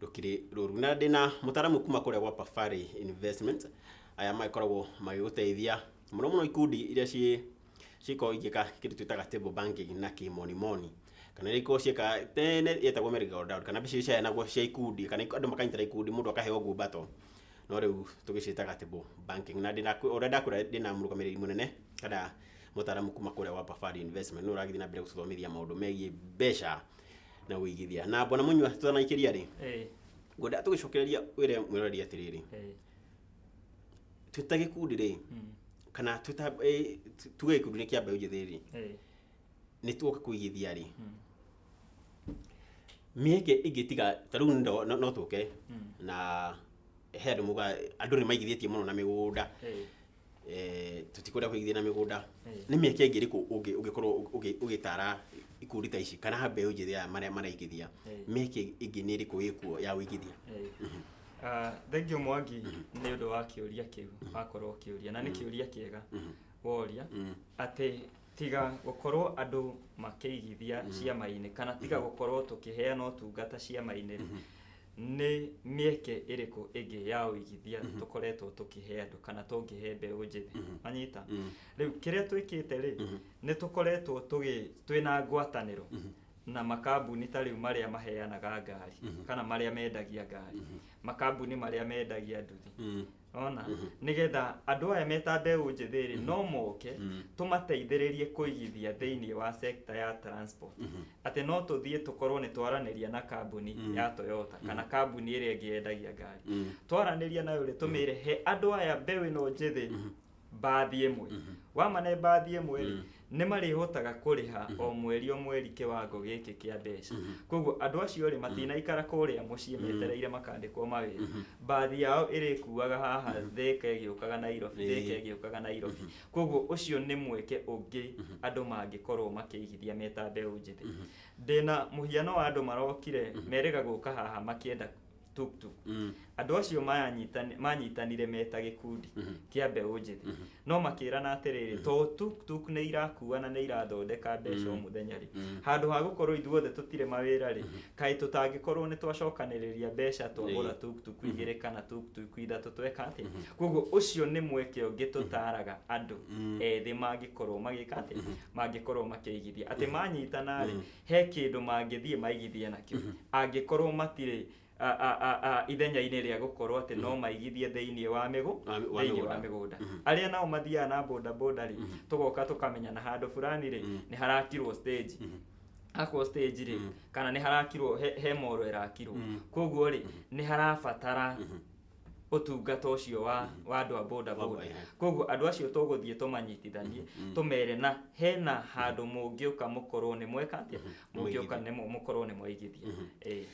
rũkiri rũru na ndĩ na mũtaramu kuma kũrĩa gwa Pafari Investment aya magĩkoragwo magĩgũteithia mũno mũno ikundi iria ciĩ cikorwo igĩka kĩndũ twĩtaga table banking na kĩmonimoni kana iria ikorwo ciĩka tene yetagwo merry go round kana mbeca iria ciaheanagwo cia ikundi kana andũ makanyitĩra ikundi mũndũ akaheo ngumbato no rĩu tũgĩciĩtaga table banking na ndĩna ũrĩa ndakwĩra ndĩna mũrũgamĩrĩri mũnene kana mũtaramu kuma kũrĩa wa Pafari Investment nĩ ũragĩthiĩ na mbere gũtũthomithia maũndũ megiĩ mbeca na wĩigithia na bwana mũnyua tũtanaikĩria rĩ Eh, ngwenda tũgĩcokereria wĩre mwĩroreri atĩrĩrĩ eh, twĩta gĩkundi rĩ mm, kana twĩta eh, tu- tuge gĩkundi nĩ kĩa mbeũ njĩthĩ rĩ eh, nĩ tuoka kũigithia rĩ mm, mĩeke ĩngĩtiga ta rĩu ndo- no no tũke mm, na he andũ muga andũ nĩ maigithĩtie mũno na mĩgũnda eh, eh, tũtikwenda kũigithia na mĩgũnda nĩ mĩeke ĩngĩ ĩrĩkũ ũngĩ- ũngĩkorwo ũgĩ- ũgĩtara ikundi ta ici kana mbeũ njĩthĩ aya marĩa maraigithia Eh. mĩeke ĩngĩ nĩ ĩrĩkũ ĩkuo ya ũigithia Ah, thengiũ mwangi nĩ ũndũ wa kĩũria kĩu wakorwo ũkĩũria na nĩ kĩũria kĩega woria Mm. atĩ tiga gũkorwo andũ makĩigithia ciama-inĩ kana tiga gũkorwo tũkĩheana ũtungata ciama-inĩ Nĩ mĩeke ĩrĩkũ ĩngĩ ya ũigithia mm -hmm. tũkoretwo tũkĩhe andũ kana tũngĩhe mbeũ njĩthĩ mm -hmm. manyita mm -hmm. rĩu kĩrĩa twĩkĩte rĩ mm -hmm. nĩ tũkoretwo twĩna ngwatanĩro mm -hmm na makambuni ta rĩu marĩa maheanaga ngari mm -hmm. kana marĩa mendagia ngari mm -hmm. makambuni marĩa mendagia nduthi mm -hmm ona Mhm. nĩgetha andũ aya meta mbeũ njĩthĩ rĩ no moke Mhm. tũmateithĩrĩrie kũigithia thĩinĩ wa sekta ya transport Mhm. atĩ no tũthiĩ tũkorwo nĩ twaranĩria na kambuni Mm. ya toyota kana kambuni ĩrĩa ĩngĩ yendagia ngari Mm. twaranĩria nayo rĩ tũmĩre he andũ aya mbeũ ĩno njĩthĩ mbathi ĩmwe Mhm. wamane mbathi ĩmwe rĩ Mm. nĩ marĩhotaga kũrĩha o mweri o mweri kĩwango gĩkĩ kĩa mbeca Mhm. koguo andũ acio rĩ matinaikara kũrĩa mũciĩ Mm. metereire makandĩkwo mawĩra Mhm. mbathi yao ĩrĩkuaga haha thĩka ĩgĩũkaga nairobi Ĩĩ. thĩka ĩgĩũkaga nairobi koguo ũcio nĩ mweke ũngĩ Mhm. andũ mangĩkorwo makĩigithia me ta mbeũ njĩthĩ Mhm. ndĩna mũhiano wa andũ marokire Mhm. merĩga gũka haha makĩenda tuktuk Mm. andũ acio manyitani- manyitanire me ta gĩkundi Mhm. kĩa mbeũ njĩthĩ Mhm. no makĩrana atĩrĩrĩ to tuktuk nĩ irakua na nĩ irathondeka mbeca o mũthenya rĩ Mhm. handũ ha gũkorwo ithuothe tũtirĩ mawĩra rĩ kaĩ tũtangĩkorwo nĩ twacokanĩrĩria mbeca twagũra Ĩĩ. tuktuk igĩrĩ kana tuktuk ithatũ tweka atĩ koguo ũcio nĩ mweke ũngĩ tũtaraga andũ Mhm. ethĩ mangĩkorwo magĩka atĩ mangĩkorwo makĩigithia atĩ manyitana rĩ he kĩndũ mangĩthiĩ maigithie nakĩo mm -hmm. angĩkorwo matirĩ ithenya-inĩ rĩa gũkorwo atĩ no mhm. maigithie thĩinĩ wa mĩgũ thĩinĩ wa mĩgũnda mhm. arĩa nao mathiaga na boda boda rĩ mhm. tũgoka tũkamenya na handũ fulani rĩ nĩ harakirwo stage akwo stage rĩ kana nĩ harakirwo he moro ĩrakirwo koguo rĩ nĩ harabatara ũtungata ũcio wa wa andũ a boda boda Wa- eh. koguo andũ acio tũgũthiĩ tũmanyitithanie tũmere na hena handũ mũngĩũka mũkorwo nĩ mweka atĩa mũngĩũka nĩ mũ- mũkorwo nĩ mwaigithia Eh,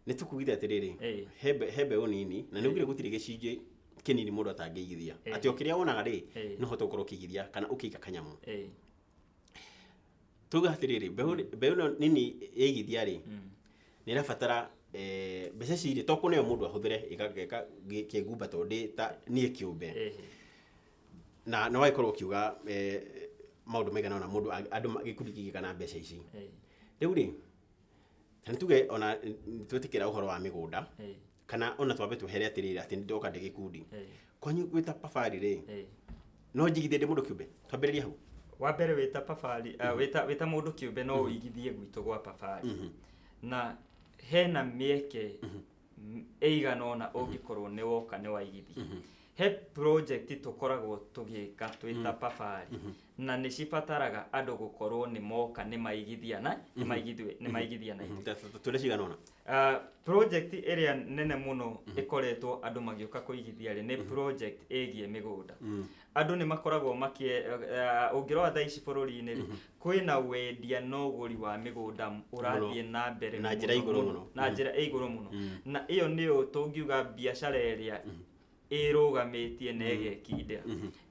nĩ tũkugire atĩrĩrĩ Eh. he mbe- he mbeũ nini na nĩ ũgire gũtirĩ gĩcunjĩ kĩnini mũndũ atangĩigithia Eh. atĩ o kĩrĩa wonaga rĩ Eh. no hote gũkorwo ũkĩigithia kana ũkĩiga kanyamũ eh, tuge atĩrĩrĩ mbeũ mbeũ ĩno nini yaigithia rĩ nĩ ĩrabatara eh, mbeca cirĩ to kũneo mũndũ ahũthĩre ĩgageka kĩngumba tondũ ndĩ ta niĩ kĩũmbe Ehe. na na wagĩkorwo ũkiuga eh, maũndũ maigana ona mũndũ a- andũ ma- gĩkundi kĩgĩ kana mbeca ici Ehe. rĩu rĩ na nĩ tuge ona nĩ twetĩkĩra ũhoro wa mĩgũnda Ehe. kana ona twambe twehere atiriri ati ndoka ndi gikundi Eh. kwanyu gwita pafari ri Eh. no njigithie ndi mundu kiumbe twambiririe hau wa mbere wĩta pabari uh, wĩta, wĩta mũndũ kĩũmbe no ũigithie gwitũ gwa pabari Mhm. na hena mĩeke m- ĩigana ona ũngĩkorwo nĩ woka nĩ waigithia he project tũkoragwo tũgĩka twĩta pabari na nĩ cibataraga andũ gũkorwo nĩ moka nĩ maigithia na nĩ maigithia- nĩ maigithia na ithuĩ tũrĩa cigana ũna Ah, project ĩrĩa nene mũno ĩkoretwo andũ magĩũka kũigithia rĩ nĩ project ĩgiĩ mĩgũnda andũ nĩ makoragwo makie ah, ũngĩrora thaa ici bũrũri-inĩ rĩ kwĩna wendia na ũgũri wa mĩgũnda ũrathiĩ na mbere Na njĩra mũno igũrũ mũno. na njĩra ĩ igũrũ mũno na ĩyo nĩyo tũngiuga biacara ĩrĩa ĩrũgamĩtie na ĩgekindĩra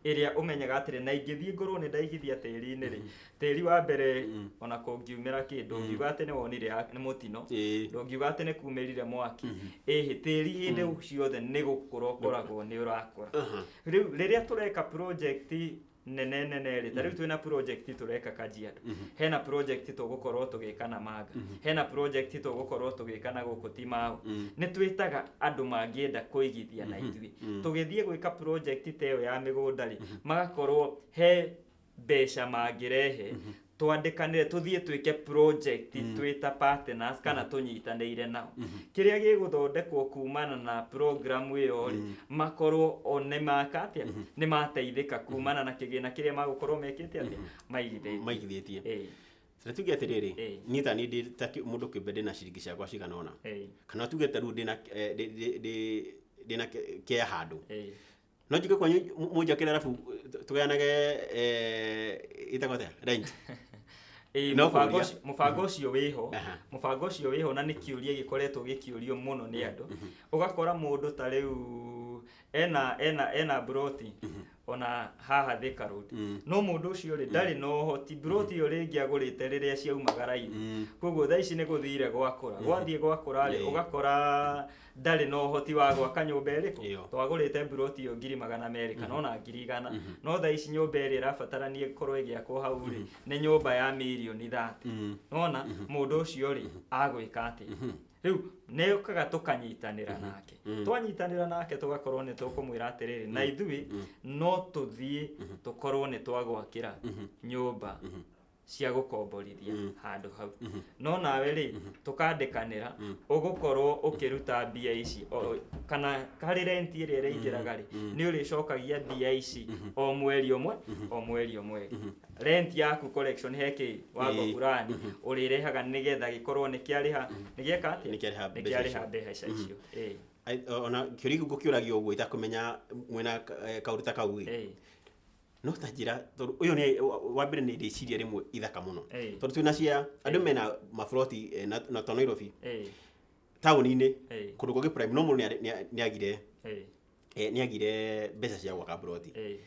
ĩrĩa ũmenyaga atĩrĩ na ingĩthiĩ ngorwo nĩ ndaigithia tĩri-inĩ rĩ tĩri wa mbere ona kũngiumĩra kĩ ndũngiuga atĩ nĩ wonire ya- nĩ mũtino Ĩĩ. ndũngiuga atĩ nĩ kumĩrire mwaki ĩhĩ tĩri hĩndĩ ciothe nĩ gũkũra ũkoragwo nĩ ũrakũra rĩu rĩrĩa tũreka project nene nene rĩ ta rĩu twĩna project tũreka kajiado hena project tũgũkorwo tũgĩka na manga hena project tũgũkorwo tũgĩka na gũkũ timaũ nĩ twĩtaga andũ mangĩenda kũigithia na ithuĩ tũgĩthiĩ gwĩka project ta ĩyo ya mĩgũnda rĩ magakorwo he mbeca mangĩrehe twandĩkanĩre tũthiĩ twĩke project mm. twĩ ta partners kana mm. tũnyitanĩire nao mm -hmm. kĩrĩa gĩgũthondekwo kumana na program ĩyo rĩ mm. makorwo o nĩ maka atĩa mm -hmm. nĩ mateithĩka mm-hmm. kumana na kĩgĩna kĩrĩa magũkorwo mekĩte atĩa mm -hmm. maigithĩtie maigithĩtie hey. Sasa tuge atiriri hey. ni ta ni ndi ta mundu kimbe ndina ciringi ciakwa cigana ona hey. kana tuge ta ru ndina eh, ndina kia handu hey No njũke kwanyu mu- mũnjakĩre arabu tũ- tũgayanage eh, ĩtagwo atĩa? Rent. Ĩĩ, No mũbango kũria. ũcio- mũbango ũcio wĩho Aha. mũbango ũcio wĩho na nĩ kĩũria gĩkoretwo gĩkĩũrio mũno nĩ andũ ũgakora mũndũ ta rĩu ena ena ena mburoti ona haha Thika Road Mm. no mũndũ ũcio rĩ ndarĩ na ũhoti mburoti ĩyo rĩngĩ agũrĩte rĩrĩa ciaumagara-inĩ Mm. koguo thaa ici nĩ gũthire gwakũra gwathiĩ gwakũra rĩ Ĩĩ. ũgakora ndarĩ na ũhoti wa gwaka nyũmba Ĩyo. ĩrĩkũ twagũrĩte mburoti ĩyo ngiri magana merĩ kana Mhm. ona ngiri igana Mhm. no thaa ici nyũmba ĩrĩa ĩrabatarania ĩkorwo ĩgĩakwo hau rĩ nĩ nyũmba ya mirioni thate Mm. nona Mhm. mũndũ ũcio rĩ agwĩka atĩ Mhm. rĩu nĩũkaga tũkanyitanĩra Mhm. nake Mm. twanyitanĩra nake tũgakorwo nĩ tũkũmwĩra atĩrĩrĩ na Mm. ithuĩ Mm. no tũthiĩ Mhm. tũkorwo nĩ twagwakĩra Mhm. nyũmba Mhm. cia gũkomborithia mm. handũ hau mm -hmm. no nawe rĩ mm -hmm. tũkandĩkanĩra mm. ũgũkorwo ũkĩruta mbia ici o, kana harĩ renti ĩrĩa ĩraingĩraga rĩ mm. nĩ ũrĩcokagia mbia ici mm -hmm. o mweri ũmwe mm -hmm. o mweri ũmwe mm -hmm. renti yaku collection hekĩ wago burani mm -hmm. ũrĩrehaga nĩgetha gĩkorwo nĩ kĩarĩha mm -hmm. nĩgĩeka atĩ nĩ kĩarĩha mbeca icio mm -hmm. ona kĩũria gũkĩũragio ũguo itakumenya mwena eh, kaũndũ ta kau no ta njĩra tondũ ũyũ nĩ wa- wa mbere nĩ rĩciria rĩmwe ithaka mũno Ĩĩ. tondũ twĩna cia andũ mena maburoti eh, na na to nairobi Ĩĩ, taũni-inĩ Ĩĩ. kũndũ kũngĩ prime no mũndũ nĩ- nĩ- nĩ agire ĩĩ, eh, nĩ agire mbeca cia gwaka buroti ĩĩ,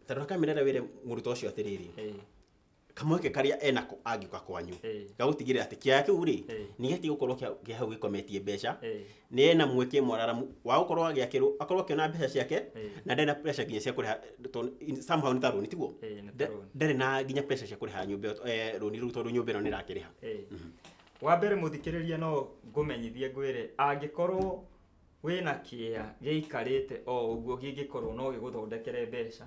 tondũ akamĩrera wĩre mũrutwo ũcio atĩrĩrĩ ĩĩ, kamweke karĩa enako angĩũka kwanyu Eh. gagũtigĩrĩra atĩ kĩaya kĩu rĩ Eh. nĩ gĩatiga gũkorwo kĩa kĩa hau gĩkometie mbeca Eh. nĩ ena mweke mwararamu wa gũkorwo agĩakĩrwo akorwo akĩona mbeca ciake Eh. na ndarĩ na pressure nginya cia kũrĩha tondũ in- somehow nĩ ta rũni tiguo Eh, nĩ ta Nda- rũni. ndarĩ na nginya pressure cia kũrĩha nyũmba ĩyo, eh, rũni rũu tondũ nyũmba ĩno nĩ ĩrakĩrĩha Eh. wa mbere mũthikĩrĩria no ngũmenyithie ngwĩre angĩkorwo wĩna kĩea gĩikarĩte o ũguo gĩngĩkorwo no gĩgũthondekere mbeca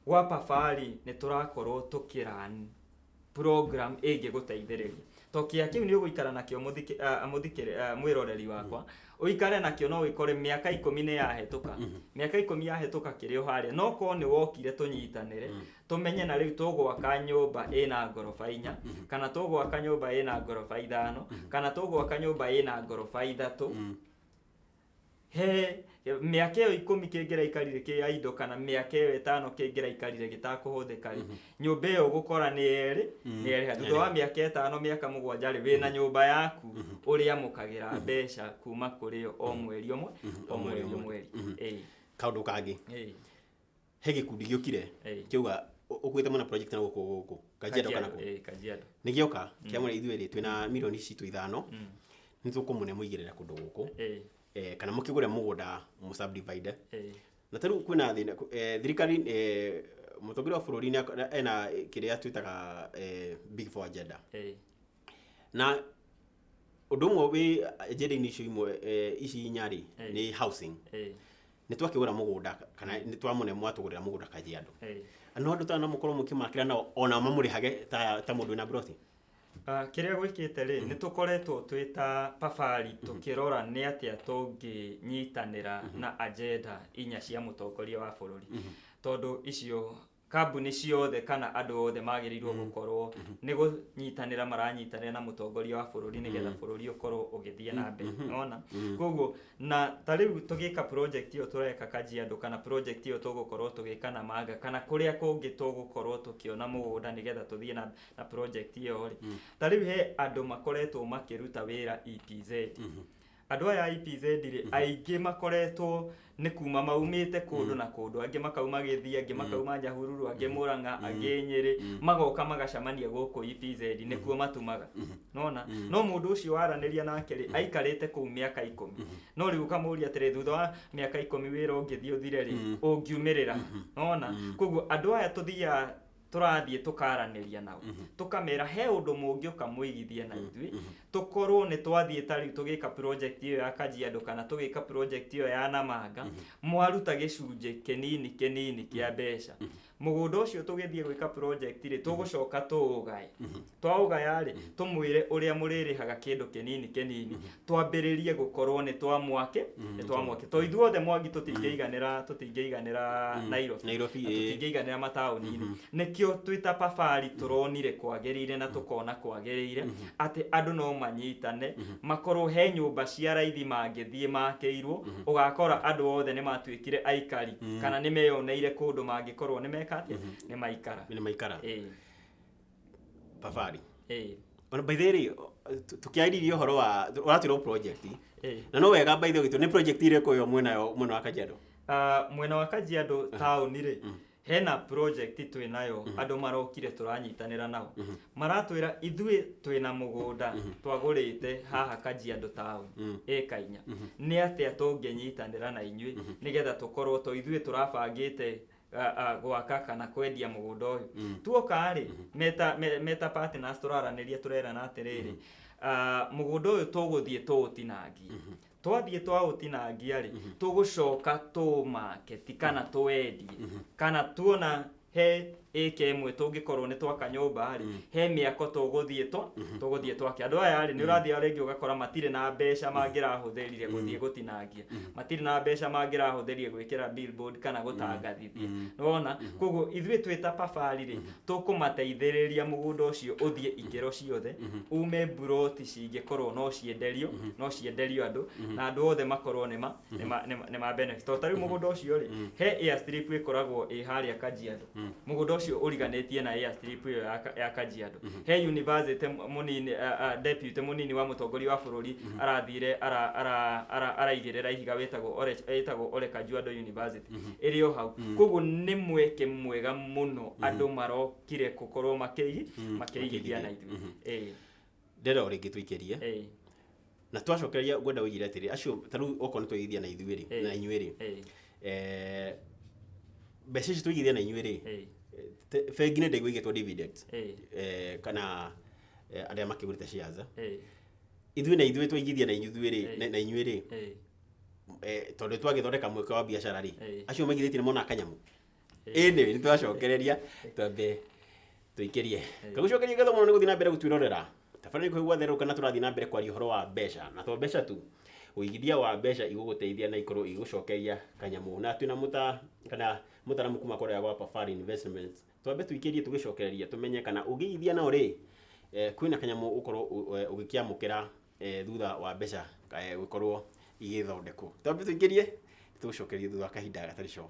Gwa Pafari nĩ tũrakorwo tũkĩran program ĩngĩgũteithĩrĩria to kĩa kĩu nĩ ũgũikara nakĩo mũthikĩ- ah, mũthikĩrĩ- ah, mwĩroreri wakwa ũikare nakĩo no wĩkore mĩaka ikũmi nĩ yahĩtũka mĩaka ikũmi yahĩtũka kĩrĩ o harĩa no korwo nĩ wokire tũnyitanĩre tũmenye na rĩu tũgwaka nyũmba ĩna ngoroba inya kana tũgwaka nyũmba ĩna ngoroba ithano kana tũgwaka nyũmba ĩna ngoroba ithatũ He mĩaka ĩyo ikũmi kĩngĩraikarire kĩ ya indo kana mĩaka ĩyo ĩtano kĩngĩraikarire gĩtakũhũthĩka rĩ nyũmba ĩyo ũgũkora nĩ erĩ nĩ erĩha thutha wa mĩaka ĩtano mĩaka mũgwanja rĩ wĩna nyũmba yaku ũrĩamũkagĩra mbeca kuma kũrĩ yo o mweri ũmwe o mweri o mweri Ĩĩ. kaundu kangi Ĩĩ. he gĩkundi gĩũkire Ĩĩ. kĩauga "Ũ- ũkuĩte mũna project na gũkũ gũkũ kajiado kana kũ eh, Kajiado. nĩ gĩoka kĩamwĩra ithuĩ rĩ twĩna mirioni citũ ithano Mm. nĩ tũkũmũne mũigĩrĩra kũndũ gũkũ Eh, eh, kana mũkĩgũre mũgũnda mũsubdivide eh, na ta rĩu kwĩna thĩna kũ- eh, thirikari eh, mũtongoria wa bũrũri nĩ ak- ena kĩrĩa twĩtaga eh, big four agenda eh, na ũndũ ũmwe wĩ agenda-inĩ icio imwe eh, ici inya rĩ Eh. nĩ housing eh, nä twakigura må gå nda kana nä twamå mwatå gå rä ra må gå nda kajiandå Hey. no andå tana må korwo må kä makä nao ona mamå rä hage ta, ta må ndå wä na broti Ah, kĩrĩa gwĩkĩte rĩ nĩ tũkoretwo twĩ ta pabari tũkĩrora nĩ atĩa tũngĩnyitanĩra na agenda inya cia mũtongoria wa bũrũri tondũ icio kambuni ciothe kana andũ othe magĩrĩirwo mm. gũkorwo mm-hmm. nĩ gũnyitanĩra maranyitanĩra na mũtongoria wa bũrũri nĩgetha mm-hmm. bũrũri ũkorwo ũgĩthiĩ na mbere mm-hmm. nona koguo na ta rĩu tũgĩka project ĩyo tũreka kajiandũ kana project ĩyo tũgũkorwo tũgĩka na manga kana kũrĩa kũngĩ tũgũkorwo tũkĩona mũgũnda nĩgetha tũthiĩ na, na project ĩyo rĩ mm. ta rĩu he andũ makoretwo makĩruta wĩra EPZ Andũ aya a EPZ rĩ, aingĩ makoretwo nĩ kuma maumĩte kũndũ na kũndũ, angĩ makauma Gĩthii, angĩ makauma Nyahururu, angĩ Mũrang'a, angĩ Nyĩrĩ, magoka magacamania gũkũ EPZ, nĩkuo matumaga. Nĩwona? No mũndũ ũcio waranĩria nake rĩ, aikarĩte kũu mĩaka ikũmi. No rĩu ũkamũria atĩrĩ, thutha wa mĩaka ikũmi wĩra ũngĩthiĩ ũthire rĩ, ũngiumĩrĩra ha? Nĩwona? Koguo andũ aya tũthiaga tũrathiĩ tũkaranĩria nao Mhm. tũkamera he ũndũ mũngĩũka mũigithie na ithuĩ Mhm. tũkorwo nĩ twathiĩ ta rĩu tũgĩka project ĩyo ya kajiado kana tũgĩka project ĩyo ya namanga Mhm. mwaruta gĩcunjĩ kĩnini kĩnini kĩa mbeca mũgũnda ũcio tũgĩthiĩ gwĩka project rĩ tũgũcoka tũũgae Mhm. twaũgaya-rĩ tũmwĩre ũrĩa mũrĩrĩhaga kĩndũ kĩnini kĩnini twambĩrĩrie gũkorwo nĩ twa mwake nĩ twa mwake to ithuothe mwangi tũtingĩiganĩra tũtingĩiganĩra Nairobi Nairobi, na ĩĩ. tũtingĩiganĩra mataũni-inĩ nĩkĩo twĩ ta pabari tũronire kwagĩrĩire na tũkona kwagĩrĩire atĩ andũ no manyitane makorwo he nyũmba cia raithi mangĩthiĩ makĩirwo ũgakora andũ othe nĩ matuĩkire aikari kana nĩ meyoneire kũndũ mangĩkorwo nĩ meka atĩa nĩ maikara nĩ maikara Ĩĩ. Babarĩ. Hey. Ona by the way rĩ, tu- tukiarĩrĩria ũhoro wa ũratwĩra project Hey. na no wega by the way nĩ project irĩkũ yo mwena yo mwena wa Kajiado Ah, mwena wa kajiado taũni rĩ hena project twĩ nayo andũ marokire tũranyitanĩra nao maratwĩra ithuĩ twĩ na mũgũnda twagũrĩte haha kajiado taũni Mm. ĩka inya nĩ atĩa tũngĩnyitanĩra na inyuĩ nĩgetha tũkorwo to ithuĩ tũrabangĩte a- a- gwaka kana kwendia mũgũnda ũyũ Mm. tuoka rĩ meta me- meta partners tũraranĩria tũrerana atĩrĩrĩ ah, mũgũnda ũyũ tũgũthiĩ tũũtinangie twathiĩ twaũtinangia rĩ tũgũcoka tũũmake ti kana tũwendie kana tuona he ĩka ĩmwe tũngĩkorwo nĩ twaka nyũmba rĩ he mĩako tũgũthiĩ twa tũgũthiĩ twake andũ aya rĩ nĩ ũrathiĩ rĩngĩ ũgakora matirĩ na mbeca mangĩrahũthĩrire gũthiĩ gũtinangia matirĩ na mbeca mangĩrahũthĩrie gwĩkĩra billboard kana gũtangathithia nĩwona koguo ithuĩ twĩ ta pabari rĩ tũkũmateithĩrĩria mũgũnda ũcio ũthiĩ ikĩro ciothe ume mburoti cingĩkorwo no cienderio no cienderio andũ na andũ othe makorwo nĩ ma- nĩ ma- nĩ ma- nĩ ma benefit tondũ ta rĩu mũgũnda ũcio rĩ he airstrip ĩkoragwo ĩ harĩa kajiado Mm. mũgũnda ũcio ũriganĩtie na airstrip ĩyo ya Ka- ya kajiado he university m- mũnini a- a- deputy mũnini wa mũtongoria wa bũrũri arathire ara- ara- ara- araigĩrĩra ihiga wĩtagwo Ole- wĩtagwo ole kajiado university ĩrĩ o hau koguo nĩ mweke mwega mũno andũ marokire gũkorwo makĩigi makĩigithia na ithuĩ Ĩĩ. ndĩrenda o rĩngĩ tũikĩrie ĩĩ, na twacokereria ngwenda ũigire atĩrĩ acio ta rĩu okorwo nĩ twaigithia na ithuĩ rĩ Ĩĩ. na inyuĩ rĩ ĩĩ, eh, mbeca ici tũigithia na inyuĩ rĩ ĩĩ, te- bengi nĩ ndĩgũigĩtwo dividend ĩĩ, eh, kana eh, arĩa makĩgũrĩte shares ĩĩ, ithuĩ na ithuĩ twaigithia na ithuĩ rĩ Ĩĩ. na- na inyuĩ rĩ ĩĩ. eh, tondũ twagĩthondeka mweke wa biacara rĩ Ĩĩ. acio maigithĩtie nĩ mona kanyamũ ĩnĩ nĩ twacokereria twambe tũikĩrie tũgũcokeria ngatho mũno nĩ gũthiĩ na mbere gũtwĩrorera tabara nĩ kũigua therũka na tũrathiĩ na mbere kwaria ũhoro wa mbeca na to mbeca tu ũigithia wa mbeca igũgũteithia na ikorwo igũcokeria kanyamũ na twĩna mũta kana mũtaramu kuma kũrĩa gwa Pafari Investments twambe tũikĩrie tũgĩcokereria tũmenye kana ũngĩigithia nao rĩ eh, kwĩna kanyamũ ũkorwo ũ- eh, ũgĩkĩamũkĩra eh, thutha wa mbeca eh, gũkorwo igĩthondekwo twambe tũikĩrie tũgũcokeria thutha wa kahinda gatarĩ coho